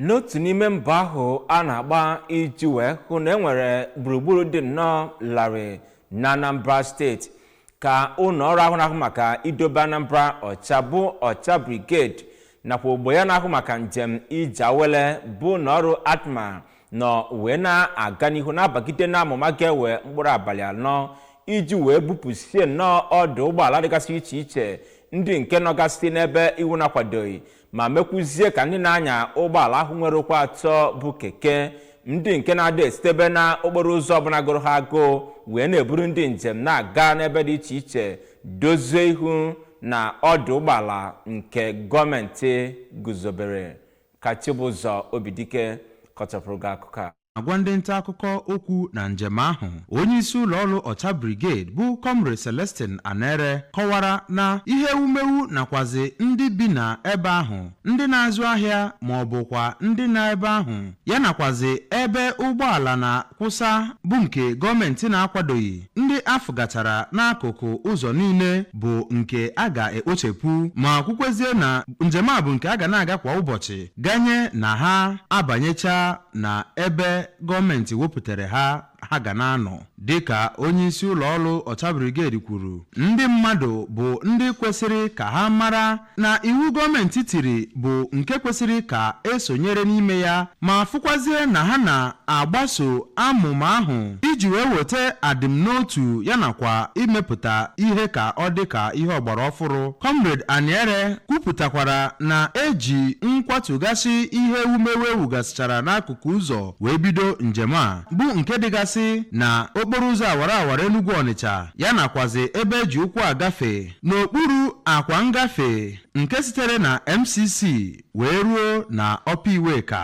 n'otu n'ime mbọ ahụ a na-agba iji wee hụ na enwere gburugburu dị nnọọ larịị na anambra steeti ka ụlọ ọrụ ahụ na-ahụ maka idobe anambra ọcha bụ ọcha brigade nakwa ogbo ya na-ahụ maka njem ije awele bụ ụlọ ọrụ atma nọ wee na-aga n'ihu na-abagide n'amụma ga-ewe mkpụrụ abalị anọ iji wee bupụsie nnọọ ọdụ ụgbọala dịgasị iche iche ndị nke nọgasị n'ebe iwu na-akwadoghị ma mekwuzie ka ndị na-anya ụgbọala ahụ nwere ụkwụ atọ bụ keke ndị nke na-adị esitebe na okporo ụzọ ọbụla gụrụ ha agụụ wee na-eburu ndị njem na-aga n'ebe dị iche iche dozie ihu na ọdụ ụgbọala nke gọọmenti guzobere ka Chibụzọ Obidike kọchapụrụ gị akụkọ a agwa ndị nta akụkọ okwu na njem ahụ onye isi ụlọ ọrụ ọcha brigade bụ comrade celestine anere kọwara na ihe ewumewu nakwazi ndị bi na ebe ahụ ndị na-azụ ahịa ma ọ bụkwa ndị na ebe ahụ ya nakwazi ebe ụgbọala na-akwụsa bụ nke gọọmenti na-akwadoghị ndị afụgatara n'akụkụ ụzọ niile bụ nke a ga-ekpochepụ ma kwukwezie na njem a bụ nke a ga na-aga kwa ụbọchị ganye na ha abanyecha na ebe gọọmenti wepụtara ha ha ga na-anọ dịka onyeisi ụlọọrụ ọcha brigade kwuru ndị mmadụ bụ ndị kwesịrị ka ha mara na iwu gọọmenti tiri bụ nke kwesịrị ka esonyere n'ime ya ma fụkwazie na ha na-agbaso amụma ahụ iji wee weta adịmnotu ya nakwa imepụta ihe ka ọ dị ka ihe ọgbara ọfụrụ Comrade Anere kwupụtakwara na eji nkwatugasị ihe ewumewu ewugasịchara n'akụkụ ụzọ wee bido njem a bụ nke dịgasị na okporo ụzọ awara awara Enugu Ọnịcha ya nakwazi ebe eji ụkwụ agafe n'okpuru akwa ngafe nke sitere na MCC wee ruo na Upper Iweka